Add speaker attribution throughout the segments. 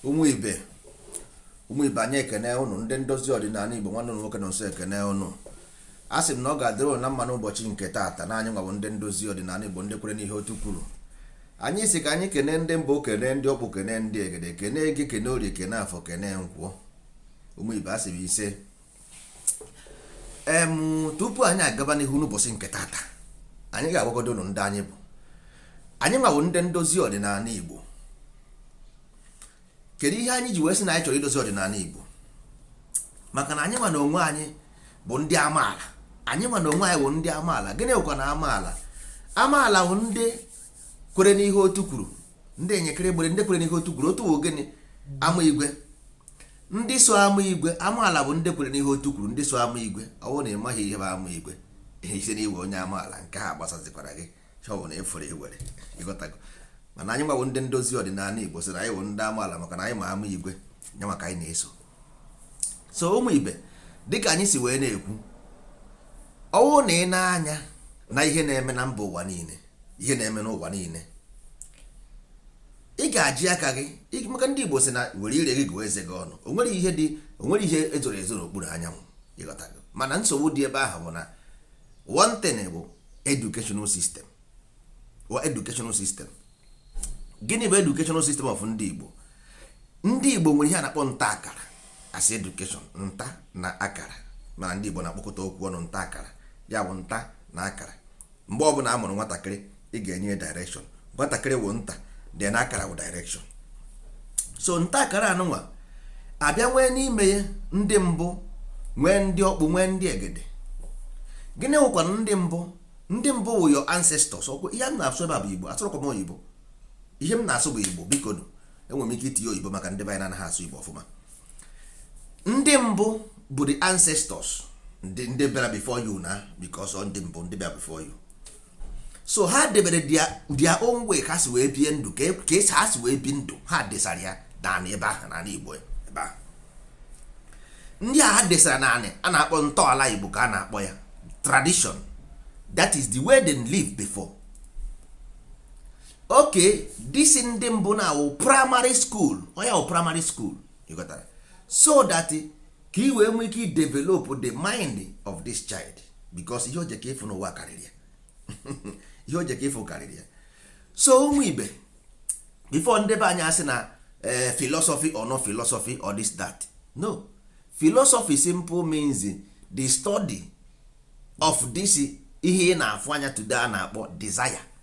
Speaker 1: ụmụ ibe ụmụ ibe anyị ekene ụnụ ndị ndozi ọdịnanị igbo nwanne ụnụ nwoke Nọnso ekene ụnụ a sị m na ọ ga-adịrị ụnụ na mma n'ụbọchị nke taata na anyị nwa wụ ndị ndozi ọdịnanị igbo ndị kwere n'ihe otu kwuru anyị si ka anyị kene ndị mbụ kene ndị ọkpụ kene ndị egede kene eke kene orie kene afọ kene nkwọ ụmụ ibe a sị m ise em tupu anyị agaba n'ihu n'ụbọchị nke taata anyị ga-agwagodo ụnụ ndị anyị bụ anyị nwa wụ ndị ndozi ọdịnanị igbo kedu ihe anyị ji wee sị na anyị chọrọ idozi ọdịnanị igbo maka na anyị nwa na onwe anyị bụ ndị amaala anyị nwa na onwe anyị bụ ndị amaala gịnị bụkwanụ amaala amaala bụ ndị kwere n'ihe otu kwuru ndị enyekere gbere ndị kwere n'ihe otu kwuru otu bụ gịnị ama igwe ndị so ama igwe amaala bụ ndị kwere n'ihe otu kwuru ndị so ama igwe ọ bụrụ na ị maghị ihe bụ ama igwe ị sị na ị wụ onye amaala nke a gbasazikwara gị chọbụ na efere ewere ịghọtago mana anyị nwa wụ ndị ndozi ọdịnanị igbo sị na anyị bụ ndị amaala maka na anyị ma ama igwe nye maka anyị na-eso so ụmụ ibe dịka anyị si wee na-ekwu ọ wụ na ị nee anya na ihe na-eme na mba ụwa niine ihe na-eme n'ụwa niine ị ga-eji aka gị maka ndị Igbo sị na were ire gị gụọ eze gị ọnụ o nwere ihe dị o nwere ihe e zoro ezo n'okpuru anyanwụ ịghọtago mana nsogbu dị ebe ahụ bụ na one thing bụ educational system our educational system gịnị bụ educational system of ndị Igbo ndị Igbo nwere ihe a na-akpọ nta akara as education nta na akara mana ndị Igbo na-akpọkọta okwu ọnụ nta akara ya bụ nta na akara mgbe ọbụla a mụrụ nwatakịrị ị ga-enye ya direction nwatakịrị wụ nta then akara wụ direction so nta akara anụnwa abịa nwee n'ime ya ndị mbụ nwee ndị ọkpụ nwee ndị egede gịnị wụkwanụ ndị mbụ ndị mbụ wụ your ancestors ọkwa ihe m na-asụ ebe a bụ igbo asụrọkwa m oyibo ihe m na-asụ bụ igbo biko enwere m ike itinye oyibo maka ndị be anyị na-anaghị asụ igbo ọfụma ndị mbụ bụ the ancestors ndị ndị bịara before you na because ndị mbụ ndị bịara before you so ha debere their own way ha si wee bie ndụ ka e, ha si wee bie ndụ ha desara ya n'anị ebe ahụ n'anị igbo ebe ahụ ndị a ha desara n'anị a na-akpọ ntọala igbo ka a na-akpọ ya tradition that is the way they live before okay this ndị mbụ na-awụ primary school ọ ya wụ primary school ịghọtara so that ka ị wee nwee ike idevelop the mind of this child because ihe o jeko ịfụ n'ụwa karịrị ya ihe o jeko ịfụ karịrị ya so ụmụ ibe before ndị be anyị asị na eh, philosophy or no philosophy or this that no philosophy simple means the study of this ihe ị na-afụ anya today a na-akpọ desire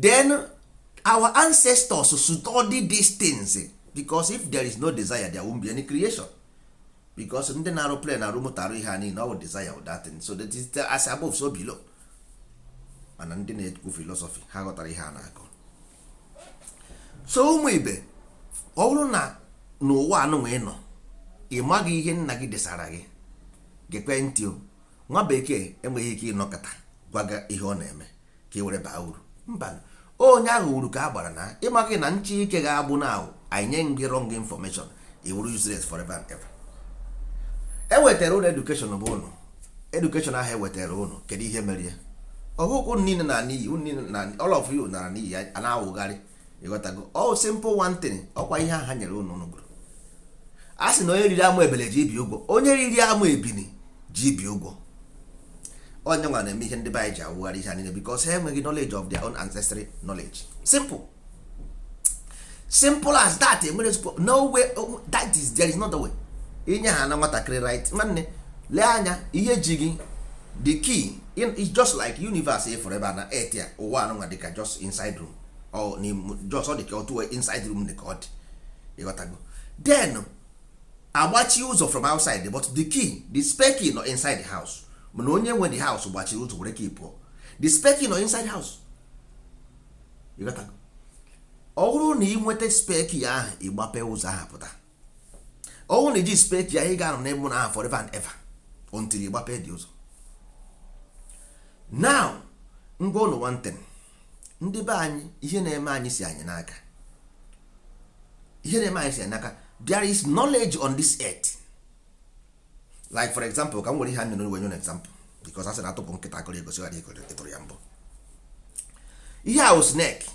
Speaker 1: then our ancestors study these things because if there is no desire there won't be any creation because ndị na-arụ plane na-arụ moto arụ ihe a niile ọ desire of that thing so that is the as above so below mana ndị na-ekwu philosophy ha ghọtara ihe a na-akọ so ụmụ ibe ọ bụrụ na n'ụwa anụnwa ị nọ ị maghị ihe nna gị desara gị gekwe ntị o nwa bekee enweghị ike ịnọkata gwa gị ihe ọ na-eme ka ị were baa uru mba onye ahụ uru ka a gbara na ịmaghị na nche ike ga-agbụ na ahụ anyị nye gị wrong information ị wụrụ useless forever and ever ewetara ụnụ education bụ ụnụ education ahụ ewetara ụnụ kedu ihe mere ya ọ bụghị ụnụ niile na n'iyi ụnụ niile na all of you nara n'iyi a na-awụgharị ịghọtago all oh, simple one thing ọkwa ihe ha nyere ụnụ ụnụ gụrụ a sị na onye riri amụ ebele ji ibi ụgwọ onye riri amụ ebini ji ibi ụgwọ ọ ya nwa na-eme ihe ndị be anyị ji awụgharị ihe niile because ha enweghị knowledge of their own ancestral knowledge simple simple as that enwere no way oh, that is there is not the way inye ha na nwatakịrị right nwanne lee anya ihe ji gị the key is just like universe ịfụrụ ebe a na earth ya ụwa anụnwa dịka just inside room just ọ dị ka otu inside room dị ka ọ dị ịghọtago then agbachi ụzọ from outside but the key the spare key nọ inside the house mana onye nwe the house gbachiri ụzọ were key pụọ the spare key nọ inside house ịghọtago ọ bụrụ na ị nweta spare key ahụ ị gbape ụzọ ahụ pụta ọ wụrụ na iji spare key ị ga-anọ n'ime ụlọ ahụ forever and ever until ị gbapee the ụzọ now ngwa ụnụ one thing ndị be anyị ihe na-eme anyị si anyị n'aka ihe na-eme anyị si anyị n'aka there is knowledge on this earth like for example ka m were ihe a nyere wee nye example because a sị na atụpụ nkịta akọrọ egosighị ya ọ dị ị tụrụ ya mbọ ihe a wụ snake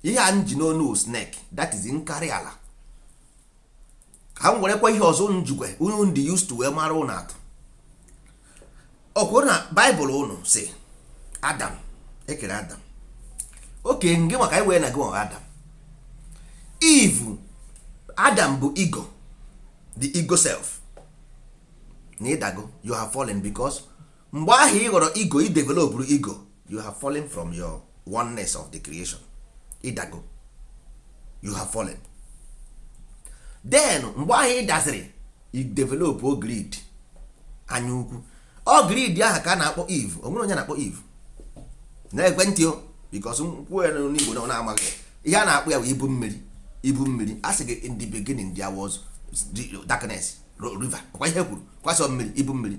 Speaker 1: ihe a m ji n'onu snake that is nkarị ala ka m werekwa ihe ọzọ unu jikwa unu dị used to wee mara ụnụ atụ o kwuru na bible ụnụ si adam ekere adam okay nge maka anyị wee na gị nwa adam eve adam bụ ego the ego self na ịdago you have fallen because mgbe ahụ ị ghọrọ ego i developụrụ ego you have fallen from your oneness of the creation ịdago you have fallen then mgbe ahụ ị daziri i develop o greed anya ukwu ọ greed ahụ ka a na-akpọ eve onwere onye a na-akpọ eve na-egekwe ntị o because m kwuo ya n'igbo na ọ na-amaghị ihe a na-akpọ ya bụ ibu mmiri ibu mmiri a sị gị in the beginning there was darkness river ọkwa ihe kwuru kwa sọ mmiri ibu mmiri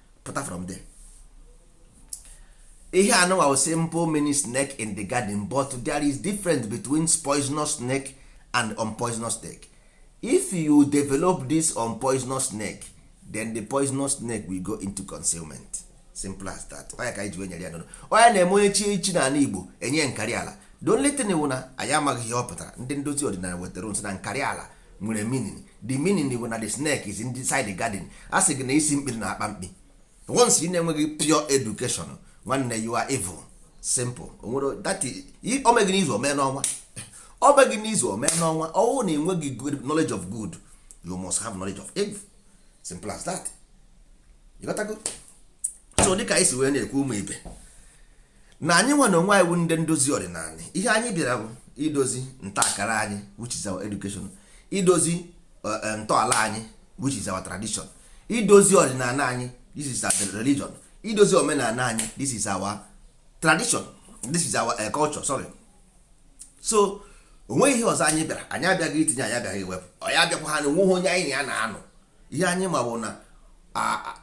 Speaker 1: pụta from there ihe anụnwa wụ simple meaning snake in the garden but there is difference between poisonous snake and unpoisonous snake if you develop this unpoisonous snake then the poisonous snake will go into concealment simple as that onye ka anyị ji wee nyere ya n'ụlọ onye na-eme onye chi echi n'ala igbo enye nkarị ala the only thing wụ na anyị amaghị ihe ọ pụtara ndị ndozi ọdịnala wetara sị na nkarị ala nwere meaning the meaning bụ na the snake is inside the garden a sị gị na isi mkpi rị na akpa mkpi once ị na-enweghị pure education nwanne you are evil simple onwere that omegị n'izu omee n'ọnwa omegị n'izu omee n'ọnwa ọwụ na enweghị good knowledge of good you must have knowledge of evil simple as that you got to go so dịka anyị si wee na-ekwu ụmụ ibe na anyị nwa na onwe anyị bụ ndị ndozi ọdịnala ihe anyị bịara bụ idozi ntakara anyị which is our education idozi eh, eh, ntọala anyị which is our tradition idozi ọdịnala anyị this is our religion idozi omenala anyị this is our tradition this is our eh, culture sorry so onweghị ihe ọzọ anyị bịara anyị abịaghị itinye anyị abịaghị iwepụ anyị abịakwa ha na onweghị onye anyị na ya na-anọ ihe anyị ma bụ na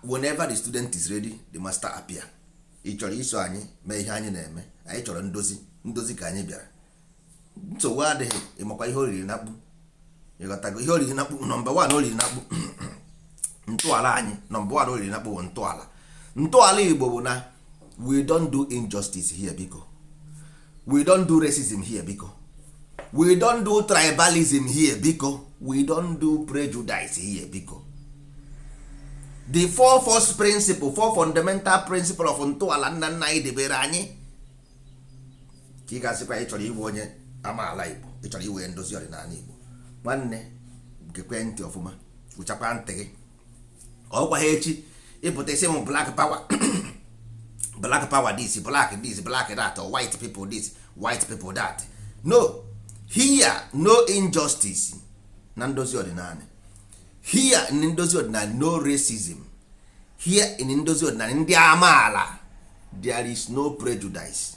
Speaker 1: whenever the student is ready the master appear ị chọrọ iso anyị mee ihe anyị na-eme anyị chọrọ ndozi ndozi ka anyị bịara nsogbu adịghị ịmakwa ihe oriri na akpụ ịghọtago ihe oriri na akpụ number one oriri na akpụ ntọala anyị number one oriri na akpụ bụ ntọala ntọala igbo bụ na we don't do injustice here biko we don't do racism here biko we don't do tribalism here biko we don't do prejudice here biko the four first principle four fundamental principle of ntọala nna nna anyị debere anyị ka ị ga-asịkwa ị chọrọ ịwụ onye amaala igbo ị chọrọ ịwụ ndozi ọdịnala igbo nwanne gekwe ntị ọfụma ụchakwa ntị gị ọkwa ha echi ị pụta ị sị m black power black power this black this black that or white people this white people that no here no injustice na ndozi ọdịnala here in ndozi ọdịnala no racism here in ndozi ọdịnala ndị amaala there is no prejudice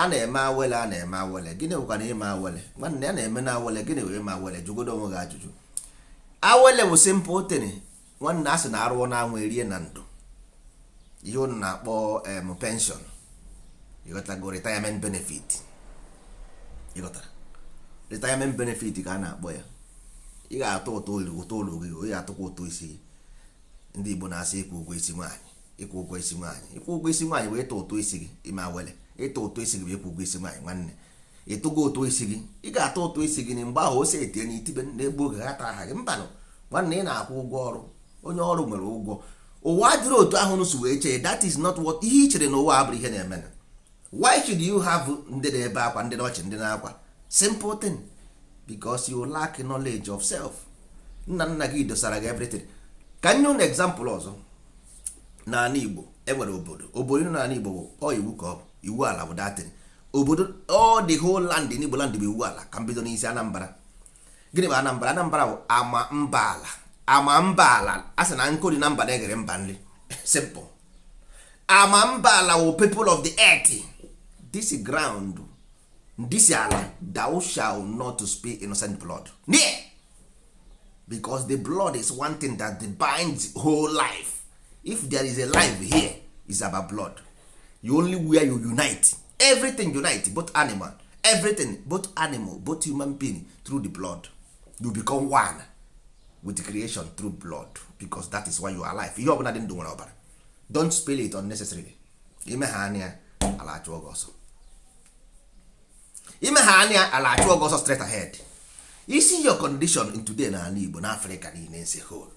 Speaker 1: a na-eme awele a na-eme awele gịnị bụkwa na ime awele nwanne a na-eme na awele gịnị wụ ime awele jụgodo onwe gị ajụjụ awele bụ simple thing nwanne a sị na arụọ na anwụ erie na ndo ihe unu na-akpọ em pension ịghọtago retirement benefit ịghọtara retirement benefit ka a na-akpọ ya ị ga-atụ ụtụ ọlụ ụtụ ọlụ gị ị ga-atụkwa ụtụ isi ndị Igbo na-asị ịkwụ ụgwọ isi nwaanyị ịkwụ ụgwọ isi nwaanyị ịkwụ ụgwọ isi nwaanyị bụ ịtụ ụtụ isi gị ime awele ịtụ ụtụ isi gị bụ ịkwụ ụgwọ isi nwaanyị nwanne ị tụgo ụtụ isi gị ị ga-atụ ụtụ isi gị na mgbe ahụ ose etinye na itibe na-egbu oge ha tara aha gị mbanụ nwanne ị na-akwụ ụgwọ ọrụ onye ọrụ nwere ụgwọ ụwa adịrọ otu ahụ unu si wee chee that is not what ihe i chere na ụwa abụrọ ihe na-eme why should you have ndị na-ebe akwa ndị na ọchị ndị na-akwa simple thing because you lack knowledge of self nna nna gị dosara gị everything ka nye ụnụ example ọzọ n'ala Igbo enwere obodo ọbụna n'ala Igbo bụ ọ iwu ka ọ bụ iwu ala bụ that thing obodo all the whole land n'Igbo land bụ iwu ala ka m bido n'isi Anambra gịnị bụ anambra anambra bụ ama mba ala ama mba ala a sị na nkụ dị na mba na-eghere mba nri simple ama mba ala wụ people of the earth this ground this ala thou shall not spill innocent blood na ya because the blood is one thing that binds whole life if there is a life here is about blood you only where you unite everything unite both animal everything both animal both human being through the blood you become one with creation through blood because that is why you are alive ihe ọbụla dị ndụ nwere ọbara don't spill it unnecessarily i mehaa nya ala achụọ gị ọsọ i mehaa nya ala achụọ gị ọsọ straight ahead is your condition in today na ala Igbo na Afrịka niile as a whole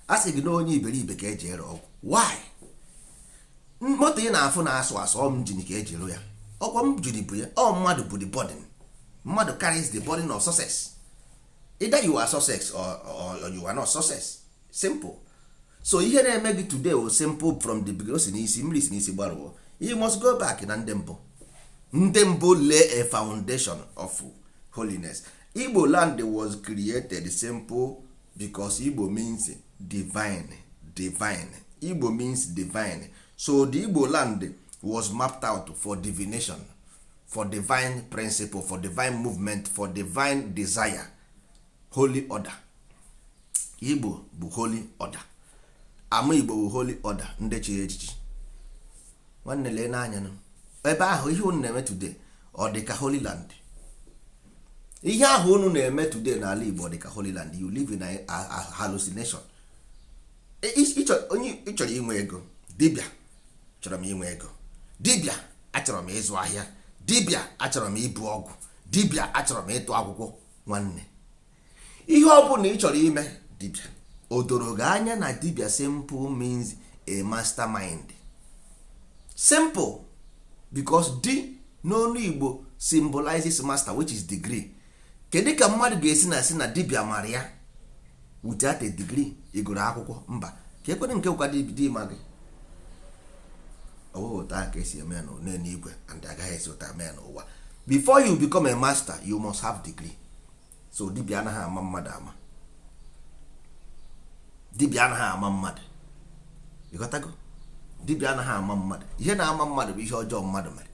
Speaker 1: a sị gị na onye iberibe ka eji ere ọgwụ why moto ị na-afụ na-asụ asụ ọ njin ka eji rụ ya ọkwa njin bu ya ọ mmadụ bu the burden mmadụ carries the burden of success either you are success or, or you are not success simple so ihe na-eme gị today ọ simple from the beginning si n'isi mmiri si n'isi gbarụọ you must go back na ndị mbụ ndị mbụ lay a foundation of holiness igbo land was created simple because igbo means divine divine igbo means divine so the igbo land was mapped out for divination for divine principle for divine movement for divine desire holy order igbo bụ holy order ama igbo bụ holy order ndị chiri echichi nwanne leenụ anya ebe ahụ ihe unu na-eme today ọ dị ka holy land ihe ahụ unu na-eme today n'ala Igbo dị ka Holy Land you live in a hallucination onye ị chọrọ inwe ego dibịa achọrọ m inwe ego dibịa achọrọ m ịzụ ahịa dibịa achọrọ m ibu ọgwụ dibịa achọrọ m ịtụ akwụkwọ nwanne ihe ọ bụla ị chọrọ ime dibịa o doro gị anya na dibịa simple means a mastermind simple because di n'onu igbo symbolizes master which is degree kedu ka mmadụ ga-esi na-asị na dibịa mara ya without a degree ị gụrụ akwụkwọ mba ka ekwere nke ụka di ma gị ọ wụghị otu a ka e si eme ya n'eluigwe and agaghị esi otu a mee n'ụwa before you become a master you must have degree so dibịa anaghị ama mmadụ ama dibịa anaghị ama mmadụ ị ghọtago dibịa anaghị ama mmadụ ihe na-ama mmadụ bụ ihe ọjọọ mmadụ mere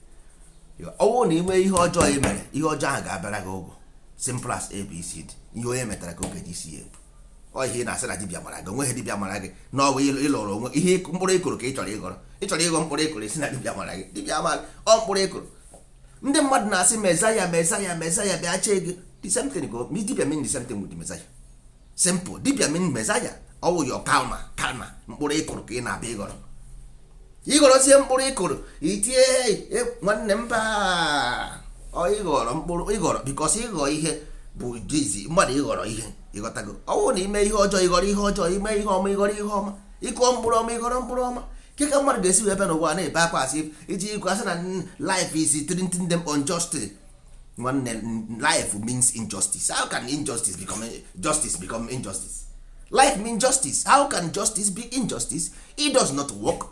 Speaker 1: ọ bụrụ na ị nwee ihe ọjọọ ị mere ihe ọjọọ ahụ ga-abịara gị ụgwọ simple as abcd ihe onye metara ka ọ ga-eji isi ebu ọ ihe ị na-asị na dibịa mara gị o nweghị dibịa mara gị na ọ bụ ịlọrọ onwe ihe mkpụrụ ị kụrụ ka ị chọrọ ịghọrọ ị chọrọ ịghọ mkpụrụ ị kụrụ ị sị na dibịa mara gị dibịa mara ọ mkpụrụ ị kụrụ ndị mmadụ na-asị messiah messiah messiah bịa chee gị the same thing go dibịa mean the same thing with the messiah simple dibịa mean messiah ọ wụ your karma karma mkpụrụ ị kụrụ ka ị na-abịa ịghọrọ ị ghọrọzie mkpụrụ ị kụrụ i tie e, nwanne mba ị ghọrọ mkpụrụ ịghọrọ because ịghọ ihe bụ dizi mmadụ ịghọrọ ihe ị ghọtago ọ wụ na i mee ihe ọjọọ ị ghọrọ ihe ọjọọ i mee ihe ọma ị ghọrọ ihe ọma ị kụọ mkpụrụ ọma ị ghọrọ mkpụrụ ọma kee ka mmadụ ga-esi wee bịa n'ụwa na-ebe akwa asị iji ikwu asị na life is treating them unjustly nwanne life means injustice how can injustice become justice become injustice life means justice how can justice be injustice it does not work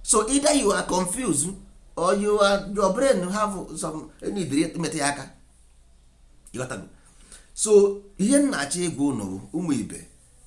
Speaker 1: so either you are confused or you are your brain have some need metụ ya aka so ihe m na-achọ ịgwa ụnụ ụmụ ibe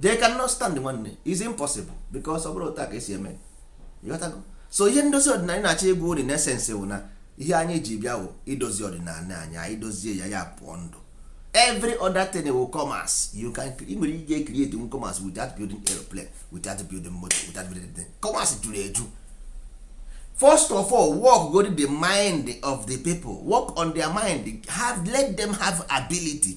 Speaker 1: they cannot stand nwanne it's impossible because ọ bụrụ otu a ka e si eme so ihe ndozi ọdịnala na-achọ ịgwa ụnụ in essence wụ na ihe anyị ji bịa wụ idozi ọdịnala anyị anyị dozie ya ya pụọ ndụ every other thing will come as you can ị nwere ike create un commerce without building airplane without building motor without building anything commerce juru eju first of all work go to the mind of the people work on their mind have let them have ability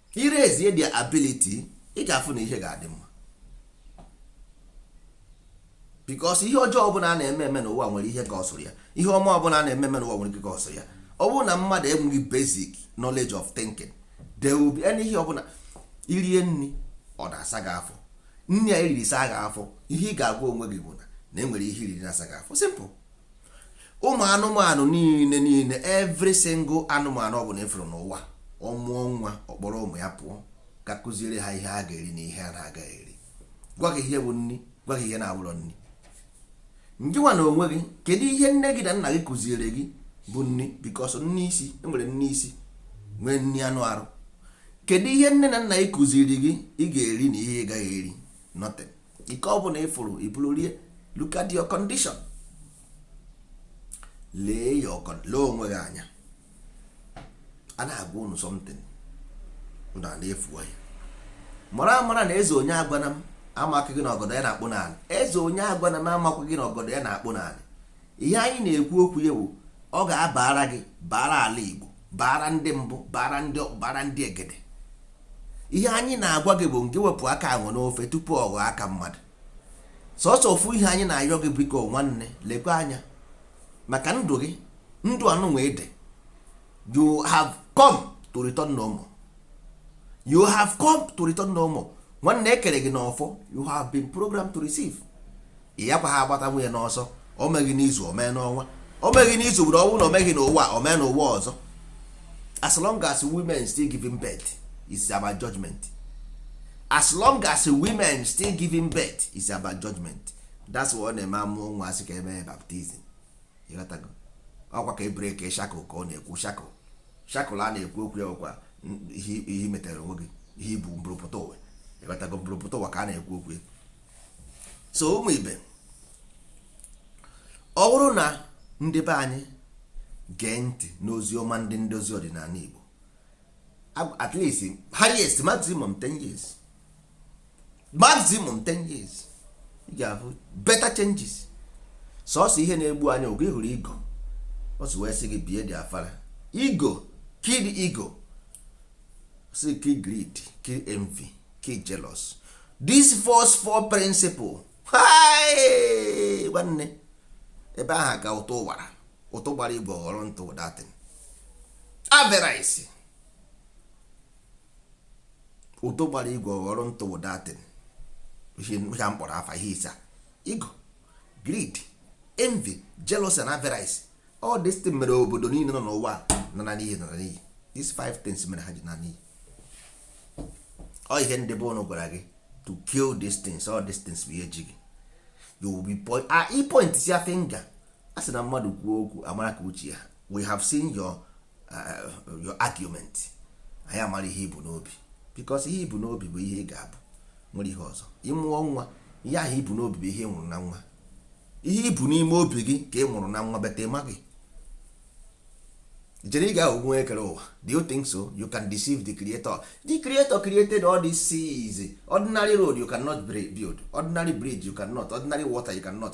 Speaker 1: i raise their ability ị ga-afụ na ihe ga-adị mma because ihe ọjọọ ọbụla a na-eme eme n'ụwa nwere ihe cause-ụrụ ya ihe ọma ọbụla a na-eme eme n'ụwa nwere ihe cause-ụrụ ya ọ bụrụ na mmadụ enweghị basic knowledge of thinking there will be any ihe ọbụla i rie nri ọ na-asa gị afọ nri a i riri saa gị afọ ihe ị ga-agwa onwe gị bụ na na e nwere ihe i riri na-asa gị afọ simple ụmụ anụmanụ niile niile every single anụmanụ ọ bụla ịfụrụ n'ụwa ọ mụọ nwa ọ kpọrọ ụmụ ya pụọ ga kụziere ha ihe a ga-eri na ihe a na-agaghị eri gwa gị ihe bụ nri gwa gị ihe na-abụrọ nri ngịnwa na onwe gị kedu ihe nne gị na nna gị kụziere gị bụ nri because nri isi enwere nri isi nwee nri anụ arụ kedu ihe nne na nna gị kụziri gị ị ga-eri na ihe ị gaghị eri nothing nke ọ bụla ịfụrụ iburu rie look at your condition lee ya ọkọ lee onwe gị anya a na-agwa unu something ndụ a na-efu ya mara amara na eze onye agwana m amakwaghị na ọgọdọ ya na-akpụ n'ala eze onye agwana m amakwaghị na ọgọdọ ya na-akpụ n'ala ihe anyị na-ekwu okwu ya bụ ọ ga-abara gị bara ala Igbo bara ndị mbụ bara ndị egede ihe anyị na-agwa gị bụ ngị wepụ aka enwe n'ofe tupu ọ ghọọ aka mmadụ sọsọ ofu ihe anyị na-ayọ gị biko nwanne lekwa anya maka ndụ gị ndụ anụnwa ị dị you have come to return no more you have come to return no more nwanne ekere gị n'ọfọ you have been programmed to receive ya kwa ha agbata nwunye n'ọsọ o meghị n'izu o mee n'ọnwa o meghị n'izu bụrụ ọnwụ na o meghị n'ụwa o mee n'ụwa ọzọ as long as women still giving birth is about judgment as long as women still giving birth is about judgment that's why ọ na-eme amụọ nwa asị ka emee baptism ọkwa ka e breakie shackle ka ọ na-ekwu shackle shackle a na-ekwu okwu ya ọkwa ihe i metere onwe gị ihe ibu mburupụta ụwa ịghọtago mburupụta ụwa ka a na-ekwu okwu so ụmụ ibe ọ bụrụ na ndị be anyị gee ntị n'ozi ọma ndị ndozi ọdịnala Igbo at least highest maximum 10 years maximum 10 years ị ga-ahụ better changes sọsọ ihe na-egbu anyị oge ị hụrụ ego ọ sị wee sị gị bie dị afara ego kill the ego sị kill greed kill envy kill jealous these first four principle nwanne ebe ahụ ka ụtụ gbara ụtụ gbara igwe ghọrọ ntụ that thing avarice ụtụ gbara igwe ghọrọ ntụ that thing ihe m kpọrọ afa ihe ise ego greed envy jealousy and avarice all this thing mere obodo niile nọ n'ụwa na-ana n'iyi na-ana n'iyi these five things mere ha ji naa n'iyi ọ ihe ndị be ụnụ gwara gị to kill these things all these things bụ ihe ji gị you will be point ah i point si finger a sị na mmadụ kwuo okwu amara ka uche ya we have seen your, uh, your argument anyị amara ihe i bu n'obi because ihe i bu n'obi bụ ihe ị ga-abụ nwere ihe ọzọ ị mụọ nwa ihe ahụ i bu n'obi bụ ihe ị mụrụ na nwa ihe i bu n'ime obi gị ka ị mụrụ na nwa bete ma gị chere ị ga-ahụ nwa ekere ụwa do you think so you can deceive the creator the creator created all these seas ordinary road you cannot build ordinary bridge you cannot ordinary water you cannot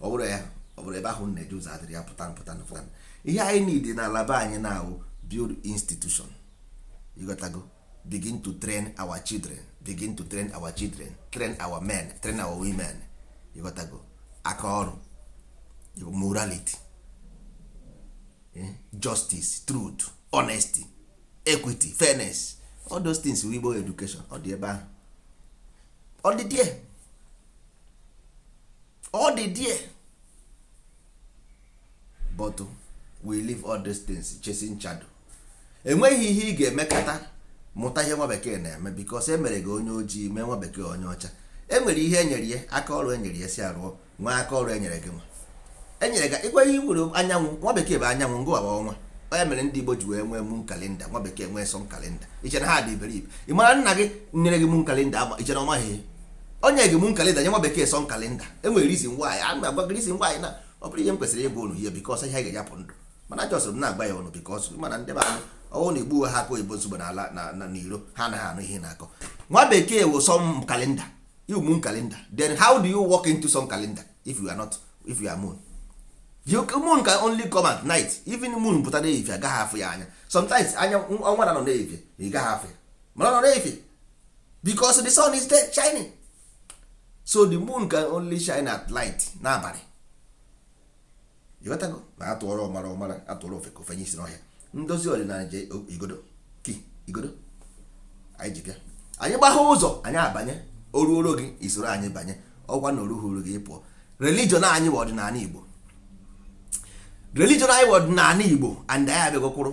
Speaker 1: ọ bụrụ ya ọ bụrụ ebe ahụ na-eje ụzọ adịrị ya pụta pụta pụta ihe anyị need na ala be anyị na-awụ build institution you gotta go begin to train our children begin to train our children train our men train our women you gotta go aka ọrụ morality eh, justice truth honesty equity fairness all those things wụ igbo education ọ dị ebe ahụ ọ dị there ọ dị there but we leave all these things chasing shadow enweghị ihe ị ga-emekata mụta ihe nwa bekee na-eme because e mere gị onye ojii mee nwa bekee onye ọcha e nwere ihe e nyere ya aka ọrụ e nyere ya sị ya rụọ nwee aka ọrụ e nyere gị nwa e nyere gị ịkwa ihe nwere anyanwụ nwa bekee bụ anyanwụ gị nwa bụ ọnwa ọ ya mere ndị Igbo ji wee nwee moon calendar nwa bekee nwee sun calendar i che na ha dị iberibe ị mara nna gị nyere gị moon calendar ama i che na ọ maghị o nye gị moon calendar nye nwa bekee sun calendar e nwere reason why a na-agwa gị reason why na ọ bụrọ ihe m kwesịrị ịgwa unu ihe because ihe ga-eji apụ ndụ mana just m na-agwa ya unu because m ma na ndị be anyị ọ wụ na igbu ha aka oyibo nsogbu n'ala na n'iro ha anaghị anụ ihe a na-akọ nwa bekee wụ sun calendar you moon calendar then how do you walk into sun calendar if you are not if you are moon you moon can only come at night even moon pụta na ehihie a gaghị afụ ya anya sometimes anya ọnwa na-anọ n'ehihie ị gaghị afụ ya mana ọ nọ n'ehihie because the sun is there shining so the moon can only shine at light n'abalị ị ghọtago na a tụọrọ ọmara ọ mara a tụọrọ ofeke o fenye isi n'ọhịa ndozi ọdịnala ji igodo key igodo anyị ji bịa anyị gbaghe ụzọ anyị abanye o ruoro gị i soro anyị banye ọ kwanụ o ruhoro gị ị pụọ religion anyị bụ ọdịnala igbo religion anyị bụ ọdịnala igbo and anyị abịago kwụrụ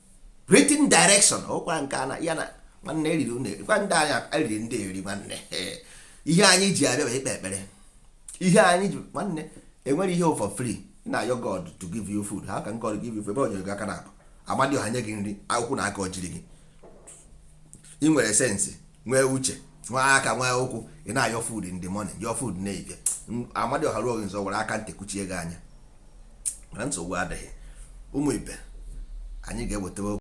Speaker 1: written direction ọkwa nke a na ya na nwanne eriri unu gwa ndị anyị eriri ndị eri nwanne ihe anyị ji abịa bụ ikpe ekpere ihe anyị ji nwanne enwere ihe for free ị na-ayọ god to give you food how can god give you food ebe o nyere gị aka naabọ amadioha nye gị nri ụkwụ na aka o jiri gị ị nwere sense nwee uche nwee aka nwee ụkwụ ị na-ayọ food in the morning yọọ food na evening amadioha ruo gị nso were aka ntị kụchie gị anya mana nsogbu adịghị ụmụ ibe anyị ga-ewetawa